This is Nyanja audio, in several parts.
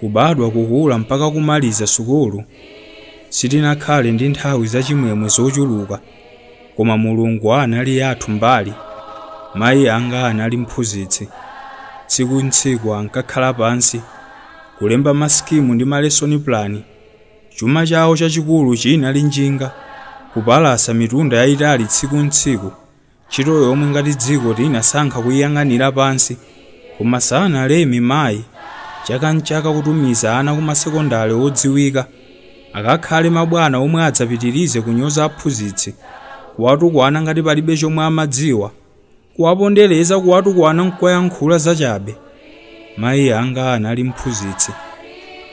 Kubadwa, kukula, mpaka kumaliza sukulu, sitinakhale ndi nthawi zachimwemwe zochuluka, koma Mulungu anali yathu mbali. Mayi anga anali mphunzitsi. Tsiku n'tsiku ankakhala pansi, kulemba masikimu ndi malesoni pulani. Chuma chawo chachikulu chinali njinga, kupalasa mitunda yayitali tsiku n'tsiku. Ntchito yomwe ngati dziko tinasankha kuyiyang'anira pansi koma sanaleme mayi chaka n'chaka kutumiza ana kumasekondale odziwika akakhale mabwana omwe adzapitirize kunyoza aphunzitsi, kuwatukwana ngati palibe chomwe amadziwa, kuwapondereza kuwatukwana n'kuwayankhula zachabe. Mayi anga anali mphunzitsi.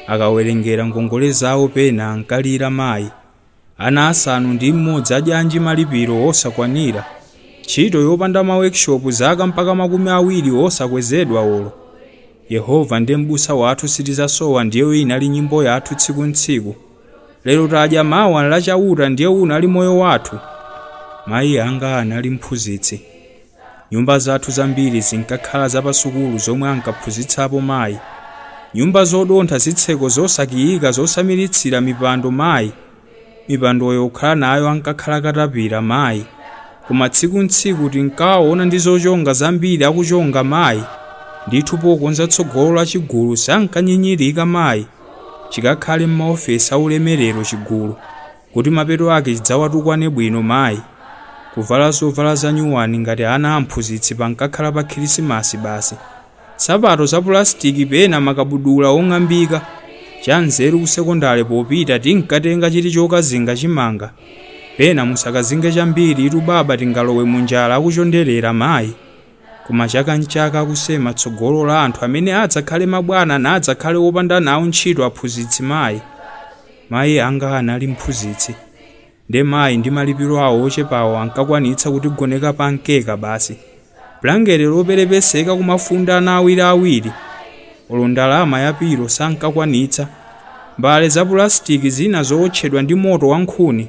Akawerengera ngongole zawo pena ankalira mayi. Ana asanu ndi mmodzi adyanji malipiro osakwanira? Ntchito yopanda ma workshop zaka mpaka makumi awiri osakwezedwa olo? Yehova ndi m'busa wathu sitizasowa ndiyo inali nyimbo yathu tsiku ntsiku. Lero tadya mawa nla chauta ndiye unali moyo wathu? Mayi anga anali mphunzitsi. Nyumba zathu zambiri zinkakhala za pasukulu zomwe ankaphunzitsapo mayi. Nyumba zodontha zitseko zosakiyika zosamiritsira mipando mayi. Mipandoyo khala nayo ankakhala katapira mayi. Koma tsiku n'tsiku tinkawaona ndi zochonga zambiri akuchonga mayi. Ndithu pokonza tsogolo la chigulu sankanyinyirika mayi. Chikakhale m'maofesi a ulemerero chigulu. Kuti mapeto ake chidzawatukwane bwino mai, kuvala zovala za nyuwani ngati ana a mphunzitsi pankakhala pa khirisimasi basi, nsapato za pulasitiki pena makabudula ong'ambika, cha nzeru ku sekondale popita tinkatenga chiti chokazinga chimanga, pena musakazinge chambiritu baba tingalowe mu njala akuchonderera mai, koma chaka nchaka akusema tsogolo la anthu amene adzakhale mabwana nadzakhale opanda nawo ntchito aphunzitsi mai. Mayi anga anali mphunzitsi, ndiye mayi ndi malipiro awo ochepawo ankakwanitsa kutigoneka pa mkeka basi, bulangete loperepeseka kumafunda ana awiriawiri. Olo ndalama ya pilo sankakwanitsa. Mbale za pulasitiki zina zowotchedwa ndi moto wa nkhuni.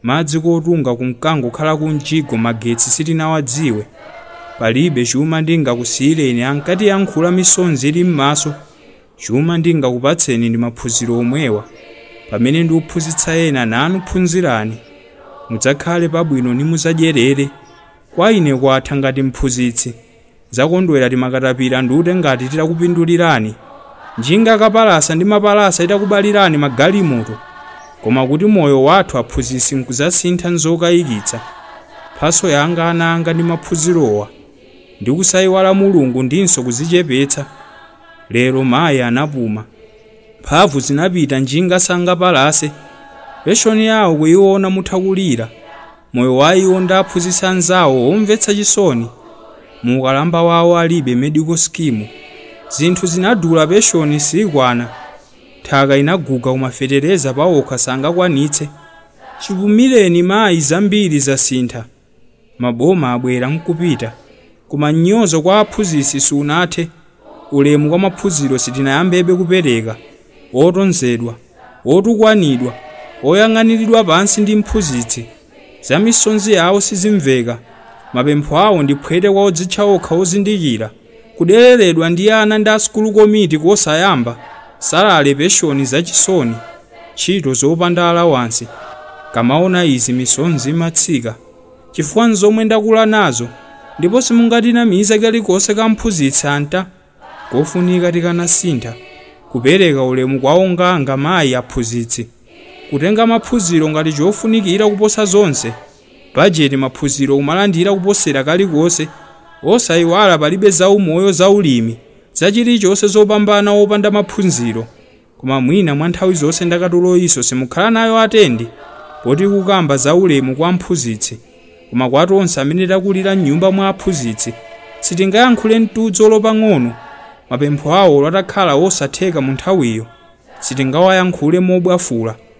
Madzi kotunga kunkangokhala kumjigo magetsi sitinawadziwe. Palibe chuma ndingakusiyireni, ankatiyankhula misonzi ili m'maso. Chuma ndingakupatseni ndi maphunziro omwewa. Pamene ndiuphunzitsa ena, nanu phunzirani. Mudzakhale pabwino nimudzadyerere. Kwa ine kwatha ngati mphunzitsi. Ndzakondwera timakatapira ndute ngati titakupindulirani. Njinga kapalasa ndi mapalasa itakubalirani magalimoto. Koma kuti moyo wathu aphunzitsi nkudzasintha nzokayikitsa. Mphatso yanga ana anga ndi maphunzirowa. Ndi kusaiwala Mulungu ndinso kuzichepetsa. Lero mayi anapuma. Mphamvu zinapita njinga sangapalase. Penshoni yawo kuyiona mutha kulira. Moyo wa iwo ndi aphunzitsi anzawo omvetsa chisoni. Mu ukalamba wawo alibe medical scheme. Zinthu zinadula penshoni sikwana. Nthaka inaguga koma fetereza pawokha sangakwanitse. Chipumireni mayi zambiri zasintha. maboma abwera nkupita koma mnyozo kwa aphunzitsi sunathe, ulemu kwa maphunziro sitinayambebe kupereka, otonzedwa, otukwanidwa, oyang'aniridwa pansi ndi mphunzitsi, za misozi yawo sizimveka, mapempho awo ndi phwete kwa odzitcha okha ozindikira. Kudereredwa ndi ana ndi a sukulu komiti kosayamba, salary penshoni zachisoni, ntchito zopanda allowance, nkamaona izi misozi imatsika chifukwa nzomwe ndakula nazo ndipo simungatinamize kalikonse ka mphunzitsi anta kofunika tikanasintha kupereka ulemu kwa onga anga mayi aphunzitsi kutenga maphunziro ngati chofunikira kuposa zonse. Bajeti maphunziro kumalandira kuposera kalikonse osayiwala palibe za umoyo za ulimi za chilichonse zopambana popanda maphunziro koma mwina mwa nthawi zonse ndakatuloyinso simukhala nayo atendi poti ikukamba za ulemu kwa mphunzitsi koma kwa tonse amene takulira mnyumba mwa aphunzitsi sitingayankhule mtudzu olo pang'ono mapempho awo olo atakhala osatheka mu nthawiyo sitingawayankhule mobwafula